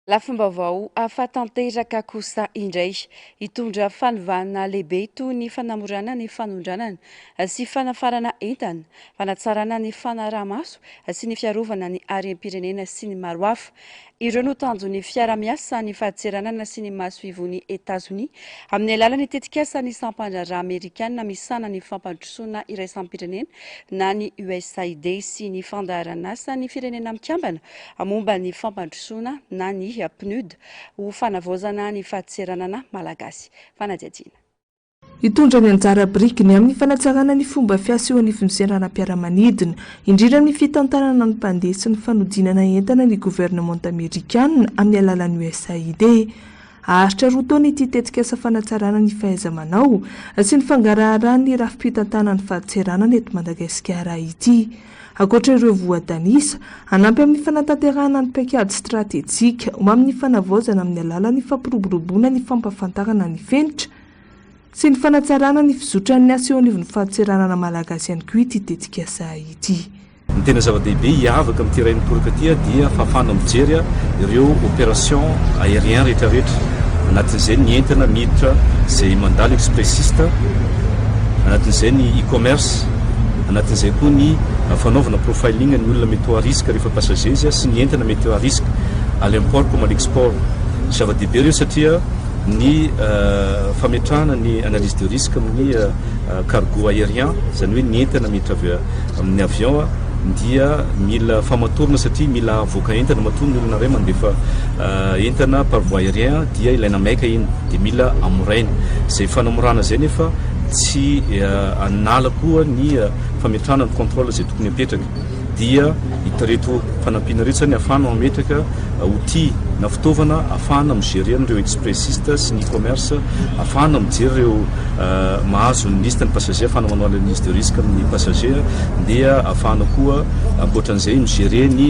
Lafim-baovao hafa tanteraka kosa indray, hitondra fanovana lehibe toy ny fanamorana ny fanondranana sy fanafarana entana, fanatsarana ny fanaraha-maso sy ny fiarovana ny harem-pirenena sy ny maro hafa. Ireo no tanjon'ny fiarahamiasa ny fahatseranana sy ny masoivohon'i Etazonia amin'ny alalan'ny tetikasan'ny sampandraharaha amerikana misahana ny fampandrosoana iraisam-pirenena na ny USAID sy ny fandaharan'asan'ny Firenena Mikambana momba ny fampandrosoana na ny PNUD ho fanavaozana ny fadseranana malagasy. Fanadihadiana. Hitondra ny anjara birikiny amin'ny fanatsarana ny fomba fiasa eo anivon'ny seranam-piaramanidina, indrindra amin'ny fitantanana ny mpandeha sy ny fanodinana entana ny governemanta amerikanina amin'ny alalan'ny USAID. Haharitra roa taona ity tetikasa fanatsarana ny fahaiza-manao sy ny fangaraharahan'ny rafi-pitantanan'ny fadseranana eto Madagasikara ity. Ankoatra ireo voatanisa, hanampy amin'ny fanatanterahana ny paikady stratejika ho amin'ny fanavaozana amin'ny alalan'ny fampiroboroboana ny fampahafantarana ny fenitra sy ny fanatsarana ny fizotran'ny asa eo anivon'ny fahatseranana malagasy ihany koa ity tetikasa ity. Ny tena zava-dehibe hiavaka amin'ity iray mitoraka ity dia fahafahana mijery ireo opération aérien rehetrarehetra, anatin'izay ny entana miditra izay mandalo expressiste, anatin'izay ny e-commerce, Anatin'izay koa ny fanaovana profiling ny olona mety ho à risque rehefa passages sy ny entana mety à risque à l'import comme à l'export. Zava-dehibe ireo satria ny fametrahana ny analyse de risque amin'ny cargo aérien, izany hoe ny entana miditra avy amin'ny avion, dia mila famatorana satria mila avoaka entana matoa ny olona iray mandefa entana par voie aérien dia ilaina maika iny dia mila amoraina. Izay fanamorana izay nefa. tsy hanala koa ny fametrahana ny contrôle izay tokony hapetraka dia ireto fanampiana ireto izany hahafahana mametraka outil na fitaovana hahafahana mi-gérer an'ireo expressiste sy ny commerce hahafahana mijery ireo euh, mahazo ny liste ny passager hahafahana manao analyse de risque amin'ny passager dia hahafahana koa ankoatran'izay mi-gérer ny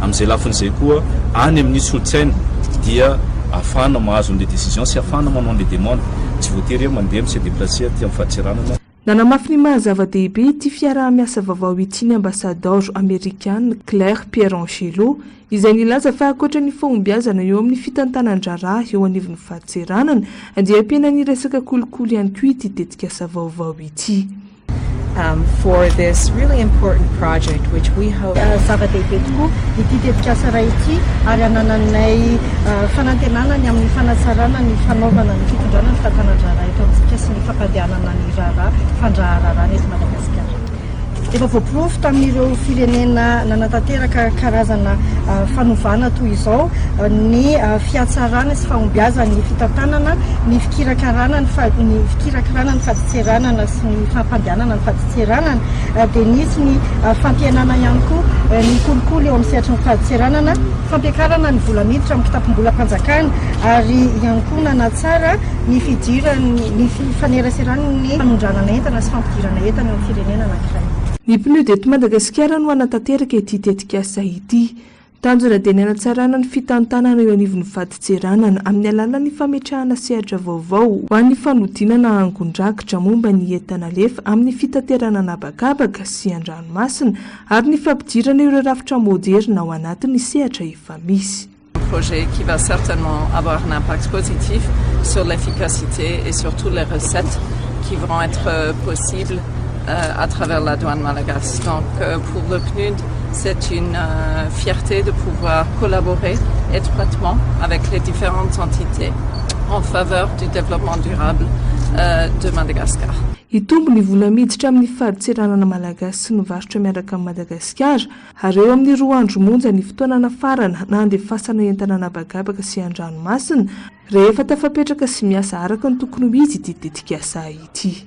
Amin'izay lafiny izay koa, any amin'ny solon-tsaina dia ahafahana mahazo an'ilay décision sy ahafahana manao an'ilay demande. Tsy voatery hoe mandeha mi-se déplacer aty amin'ny fadintseranana aho. Nanamafy ny maha zava-dehibe ity fiaraha-miasa vaovao ity ny Ambasadaoro Amerikana Claire Pierangelo, izay nilaza fa ankoatra ny fahombiazana eo amin'ny fitantanan-draharaha eo anivon'ny fadintseranana, dia ampiana ny resaka kolikoly ihany koa ity tetikasa vaovao ity. Zava-dehibe tokoa ity tetikasa iray ity ary anananay fanantenana ny amin'ny fanatsarana ny fanaovana ny fitondrana ny fahatanan-draharaha eto amintsika sy ny fampandehanana ny raharaha fandraharaharaana eto Madagasikara. Efa voaporofo tamin'ireo firenena nanatanteraka karazana fanovana toy izao ny fihatsarana sy fahombiazan'ny fitantanana ny fikirakirana ny fadintany. fadintseranana sy ny fampandehanana ny fadintseranana dia nisy ny fampihenana ihany koa ny kolikoly eo amin'ny sehatry ny fadintseranana, fampiakarana ny vola miditra amin'ny kitapom-bolam-panjakana ary ihany koa nanatsara ny fidiran'ny ny fifaneraseran'ny fanondranana entana sy fampidirana entana eo amin'ny firenena anankiray. Ny PNUD eto Madagasikara no hanatanteraka ity tetikasa ity. Tanjona dia ny hanatsarana ny fitantanana eo anivon'ny vadintseranana amin'ny alalan'ny fametrahana sehatra vaovao ho an'ny fanodinana angon-drakitra momba ny entan'alefa amin'ny fitaterana an'habakabaka sy an-dranomasina ary ny fampidirana ireo rafitra moderina ao anatin'ny sehatra efa misy. Un projet qui va certainement avoir un impact positif sur l'efficacité et surtout les recettes qui vont être possibles à travers la douane malagasy. Donc, pour le PNUD, C'est une fierté de pouvoir collaborer étroitement avec les différentes entités en faveur du développement durable de Madagascar. Hitombo ny vola miditra amin'ny fadintseranana malagasy sy ny varotra miaraka amin'i Madagasikara, ary eo amin'ny roa andro monja ny fotoana nafarana na handefasana entana an'habakabaka sy an-dranomasina, rehefa tafapetraka sy miasa araka ny tokony ho izy ity tetikasa ity.